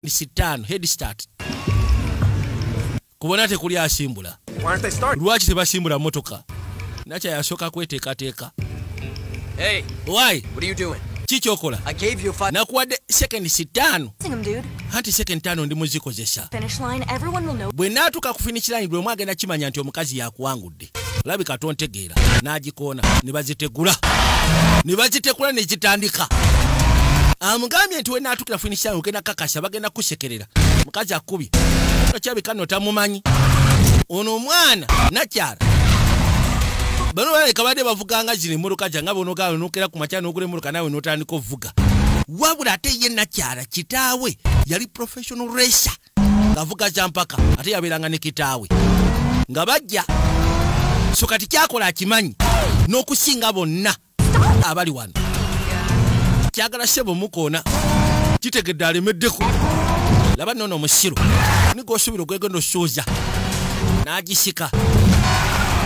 ni sitaano head start kubona tekuli asimbula lwaki tebasimbula motoka nakya yasooka kweteekateeka kikyokola nakuwadde second sitaano anti second taano ndi muzikozesa bwe naatuuka ku finish line bwe mwagenda kimanya nti omukazi yakuwangudde labika tontegeera n'agikoona ne bazitegula ne bazitegula ne zitandika amugambye nti wenaatukira finishan ogenda kakasa bagenda kusekerera mukazi akubye okyabika no tamumanyi ono omwana nakyala bano baleka badde bavuganga zino emmotoka zanga bonogawe nokera ku makya nogula emmotoka nawe notandika ovuga wabula ate ye nakyala kitaawe yali professional racer ngavuga kyampaka ate yabeeranga ne kitaawe nga bajja so kati kyakola akimanyi n'okusinga bonna abali wano kyagala sebo mukoona kitegedde alemeddeko laba nono omusiru nigosuubira ogwegenda osuuza n'agisika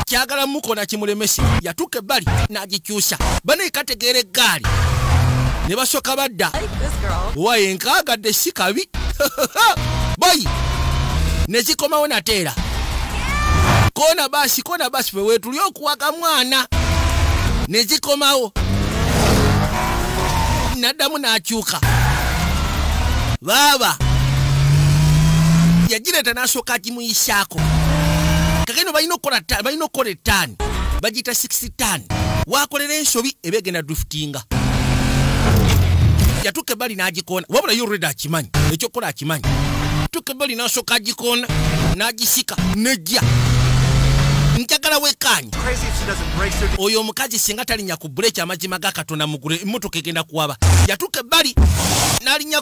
kyagala mukoona kimulemese yatuuka ebbali n'agic kyusa banaye kategeera eggaali ne basooka badda waye nkaagadde si kabi bayi ne zikomawo nateera koona basi koona basi fe weetuli okuwaga mwana ne zikomawo n'addamu n'akyuka baaba yagireeta n'asooka agimuyisaako kakeno balina okukola ettaani bagiyita 6 tan wakolera ensobi eba egenda driftinga yatuka ebbali n'agikoona wabula yo reda akimanyi ekyokukola akimanyi tuka ebbali n'asooka agikoona n'agisika nejja njagala wekaanyi oyo omukazi singa talinya ku buleeki amazima ga katonda mugulu emmotoka egenda kuwaba yatuka ebbali n'alinya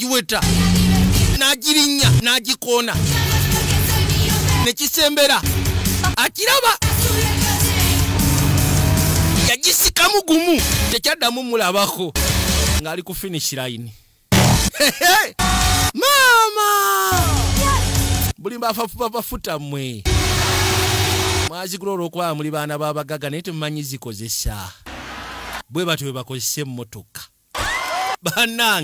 n'agiweta n'agirinya n'agikoona ne kisembera akiraba yagisikamu gumu tekyaddamu mulabako ng'ali ku finish line maama buli mbafafubabafuta mwe mwazigula olwokuba muli baana babagaga naye temumanyi zikozesa bwe batyo bwe bakozesa emmotoka banange